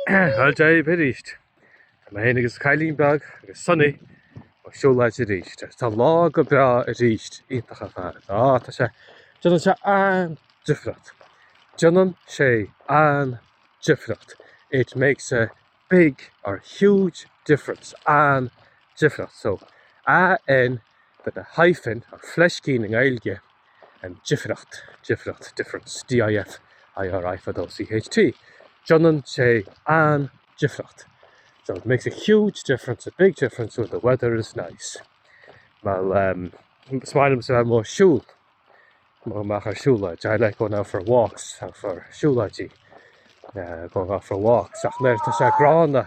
Dia daoibh arís! Tá mé féin agus cailín beag agus Sonny ag siúlóid arís. Tá an lá go breá arís, iontach ar fad. Tá, tá sé, déanann sé an-difríocht. Déanann sé an-difríocht. It makes a big or huge difference, an-difríocht. So, AN with a hyphen or fleiscín i nGaeilge. difríocht, difríocht, difference, D-i-f-i-r-i fada o c-h-t, déanann sé an-difríocht, so it makes a huge difference, a big difference when the weather is nice. Well ehm is maith liomsa a bheith amuigh ag siúl, goil amach ar siúlóid, I like going out for walks, out for siúlóidí, going out for walks, ach nuair atá sé gránna.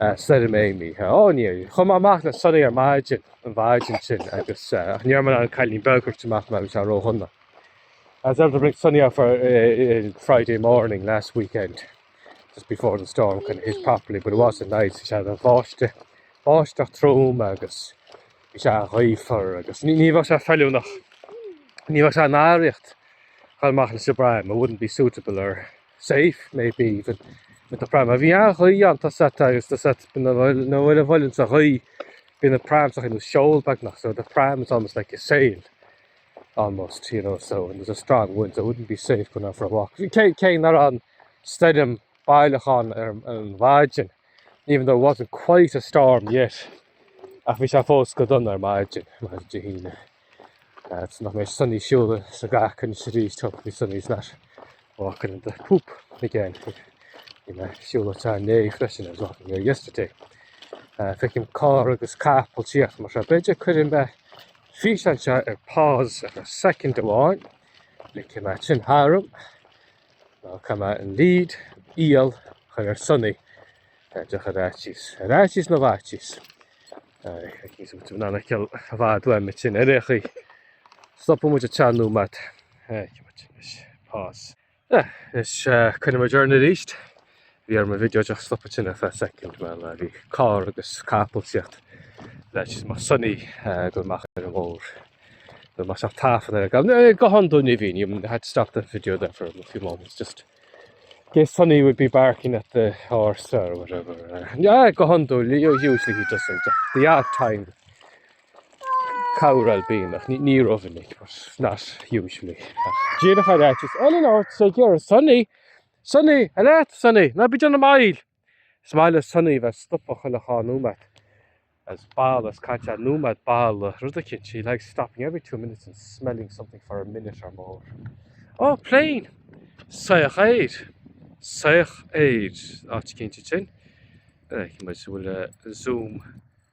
Stoirm Amy. Ó, yeah. Chuaigh mé amach le Sonny ar maidin, an mhaidin sin, agus, ach ní raibh mé in ann Cailín Beag a thabhairt amach mar, bhí sé ródhona. I was able to bring Sonny out for uh, Friday morning last weekend, just before the storm kind of hit properly, but it wasn't nice. She had a báiste, báisteach trom agus bhí sé gaofar agus ní ní bheadh sé feiliúnach, ní bheadh sé oiriúnach a ghoil amach leis an bpram, it wouldn't be suitable or safe maybe even with the pram. A bhí an-ghaoth ann tá a fhios agat agus tá a fhios agat bíonn nuair a bhuaileann sé an ghaoth bíonn an pram sa ghaoth nós seol beagnach so the pram is almost like a sail almost you know so when there's a strong wind so it wouldn't be safe going out for a walk. Bhí cé cé nach raibh an stoirm baileach ann ar ar an mhaidin even though it wasn't quite a storm yet ach bhí sé fós go dona ar maidin, maidin Dé hAoine. Agus nach mbeidh Sonny Shula sa gcac anois arís tocht faoi Sonny is nach bhfacann an do poop na gceann gur bhí mé siúla te an léig freisin I was walking there yesterday. Uh, feicim carr agus cap an tíocht mar seo. Beidir cuirim me físeán seo ar pause ar second amháin le cé me sin tharm ná cá me an lead íol chun ar sunnaí Tá just ar fhaitíos, ar fhaitíos na bhfaitíos. Aici súid an anacail i bhfad uaim ansin ar aon chaoi. Stopfaidh muid go ceann nóiméad. Aici muid leis. Pause. Ah, is coinneoidh muid orainn arís. Bhí orm an video just a stopadh ansin ar feadh soicind mar bhí carr agus capall ag tíocht le is mar Sonny go mbeadh ar an mbóthar. Go mbeadh sí ag tafann ar an gcapall. Go hiondúil ní bhíonn. You had to stop the video there for a few moments just Yes, Sonny would be barking at the horse or whatever. Uh, yeah, go handle. Usually he doesn't. The odd time, cowral bean, ach ní ní rovinnig, but not usually. Díreach ar áit is Ellen Ort sé gear Sonny, Sonny, a leat Sonny, ná bíd an am ail. Is maith le Sunny bheith ag stopadh chuile dhá nóiméad. is balú is caitheamh nóiméad ag balú rud eicínt she likes stopping every two minutes and smelling something for a minute or more Ó, plane! soitheach aeir, soitheach aeir, áit eicínt ansin. Chonaic muid bhfuil Zoom.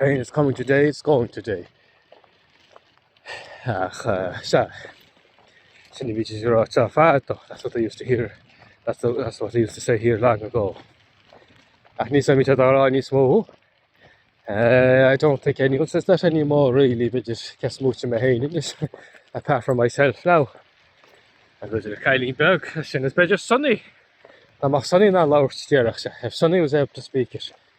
Rain is coming today, it's going today. Ach sea, sin a bhídís ag rá teo fad do, that's what they used to hear, that's the, that's what they used to say here long ago. Ach ní san mithid a rá níos mó. Uh, I don't think anyone says that anymore really, beidir ceas múinte mé féin anois, apart from myself now. An bheidir cailín beag sin is beidir Sonny, ná maith Sonny ná labhairt díreach se, if Sonny was able to speak it,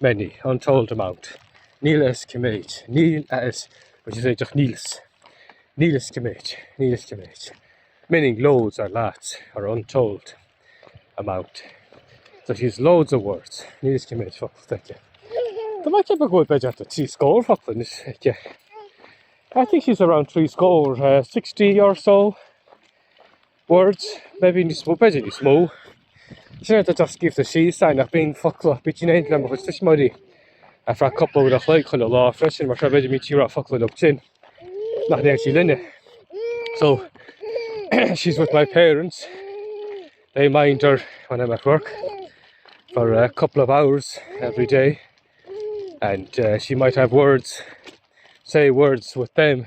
many, untold amount, níl a fhios cé méid, níl a fhios, which is just níl 'fhios, níl a fhios cé méid, níl a fhios cé méid, meaning loads or lots or untold amount. So she has loads of words, níl a fhios cé méid focal aici. Tá mé ceapadh go bhfuil b'fhéidir do trí scór focal anois aici. I think she's around trí scór, uh, sixty or so, words, maybe níos mó, b'fhéidir níos mó. Sin é atá scríobhta síos againn ach bíonn focla, bíonn sí in éindí le mo chuid tuismitheoirí ar feadh cúpla uair an chloig chuile lá freisin mar seo b'fhéidir go mbíonn sí ag rá focla leo sin nach ndeir sí linne. So she's with my parents. They mind her when I'm at work for a couple of hours every day and uh, she might have words say words with them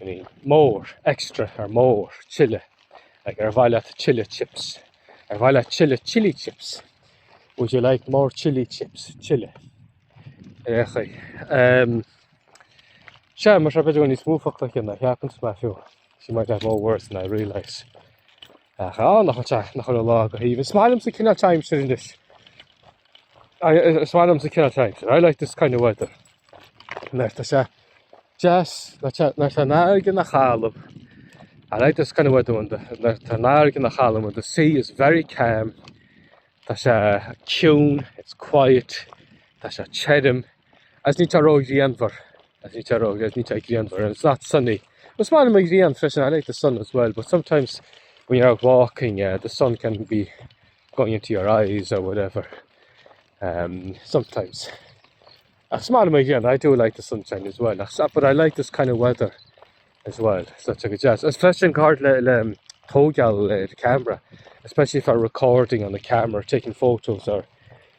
meaning more, extra or more, tuilleadh, like ar mhaith leat tuilleadh chips, ar mhaith leat tuilleadh chili chips, would you like more chili chips, tuilleadh. Ar chaoi. Um, Sea, mar seo b'fhéidir go bhfuil níos mó focla aici ná a cheapanns mé fiú. She might have more words than I realise. Ach á, nach bhfuil teacht ina chuile lá go haoibhinn. Is maith liomsa an cineál aimsir anois. Is maith liomsa cineál timesir. I like this kind of weather. Nuair atá sé deas, nuair atá an fharraige an-chalm. I like this kind of weather when the, nuair atá an fharraige an-chalm when the sea is very calm. Tá sé ciúin, it's quiet. Tá sé tirim, Agus ní tá ró-ghrianmhar. Agus ní tá ró, agus ní tá grianmhar. And it's not sunny. Agus má anam a ghrian freisin, I like the sun as well, but sometimes when you're out walking, uh, the sun can be going into your eyes or whatever. Um, sometimes. Ach má anam a ghrian, I do like the sunshine as well. Ach, but I like this kind of weather as well. So check it out. Especially in card le, le um, tógeal le the camera, especially if I'm recording on the camera, taking photos or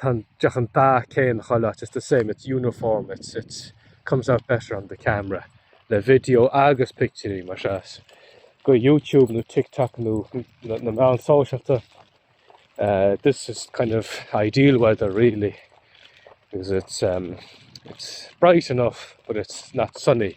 Tá an deoch an dath céanna chuile áit, it's the same, it's uniform, it's, it comes out better on the camera, le video agus pictiúirí mar seo as go YouTube nó TikTok nó na meáin sóisialta. Uh, this is kind of ideal weather really, because it's, um, it's bright enough but it's not sunny.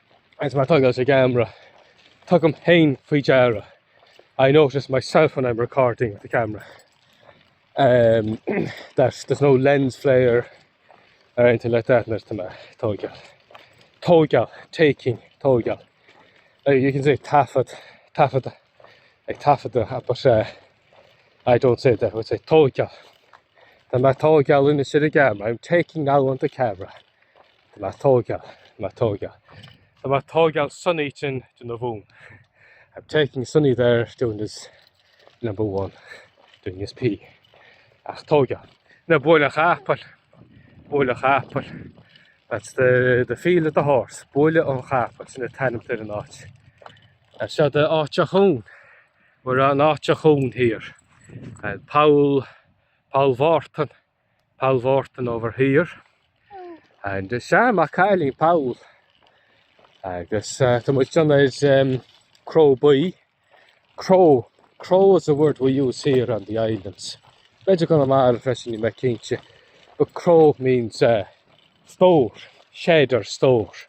agus mé ag tóigeáil leis an gceamara, tugaim féin faoi deara, I notice myself when I'm recording with the camera, um, that there's no lens flare or anything like that, nuair tá mé ag tóigeáil. Tóigeáil, taking, tóigeáil. Uh, you can say taifead, taifead, ag taifeadadh, uh, but uh, I don't say that, I would say tóigeáil. Tá mé ag tóigeáil anois ar an gceamara, I'm taking now on the camera. Tá mé ag tóigeáil, tá mé ag tóigeáil. Tá mé ag tóigeáil Sonny ansin ag déanamh a mhúin. I'm taking Sonny there doing his number one, doing his pee. Ag tóigeáil. Now Buaile an Chapaill, Buaile an Chapaill. That's the, the field of the horse. Buaile an Chapaill, sin é an t-ainm atá ar an áit seo de áit a chún. We're an áit a chún here. And Poll, Poll Mhártain. Paul Wharton over here and uh, sea maith an cailín Paul agus uh, tá muid ag dul ag an um, cró buí cró cró is a word we use here on the islands b'fhéidir i gConamara freisin níl mé cinnte but cró means uh, store shed or store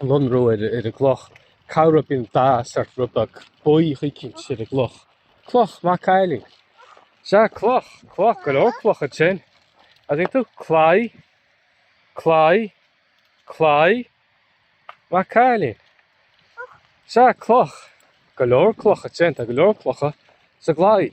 lonrú ar an gcloch, go mbíonn dath sórt rud beag buí éicint ar an gcloch, cloch, maith an cailín, sea cloch, cloch, go leor clocha ansin, an dtuigeann tú? claí, claí, claí, maith an cailín, sea cloch, go leor clocha ansin, tá go leor clocha sa gclaí.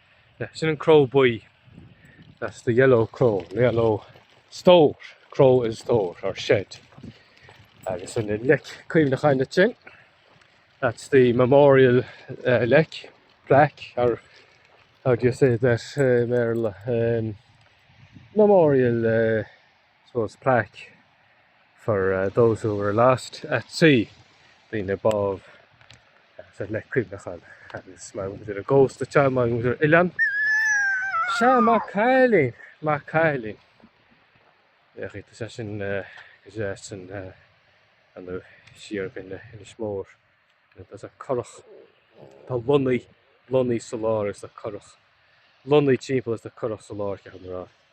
Sea, sin an cró buí, that's the yellow crow, the yellow stór, crow is stór, or shed. Agus an leic cuimhneacháin duit sin, that's the memorial leic, plaque, or how do you say that i mBéarla? Memorial. suppose plaque for those who were lost at sea, daoine a bádh so leic cuimhneacháin, agus mar a bhfuil muid ar an gcósta is teanga mar a bhfuil muid ar oileán. Sea, maith an cailín! Maith an cailín! Bheadh fhios aige sin go deas an fhanadh siar go hInis Mór. There's a currach, tá lonnaí, lonnaí sa lár is an currach, lonnaí timpeall is an currach sa lár ceapaim a rá.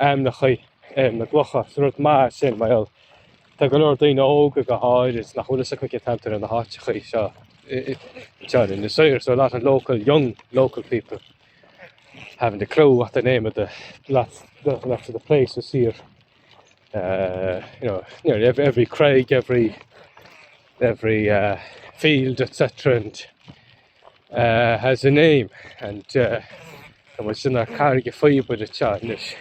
ainmneacha ar na gclocha. Is rud maith sin mar gheall tá go leor daoine óga go háirid nach bhfuil a fhios acu cén t-ainm atá ar na háiteachaí seo in Inis Oírr so a lot of local, young local people haven't a clue what the name of the lots, lots of the places here uh, you know, nearly every, every craig, every every uh, field, etc. And uh, has a name and uh, tá muid ansin ar Carraig an Phíobaire atá anois.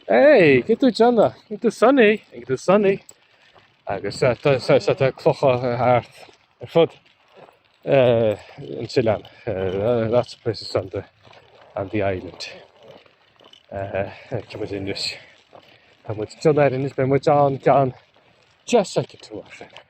Hey, cén chaoi a bhfuil tú Johna, cén chaoi a bhfuil tú Sonny, cén chaoi a bhfuil tú Sonny. Agus uh, tá sa- sa- tá clocha ar thart ar fud uh, an t-oileán. Uh, lots of places on the, on the island. Uh, tá muid anois. Tá muid John ar anois, beidh muid an gan just like a tour.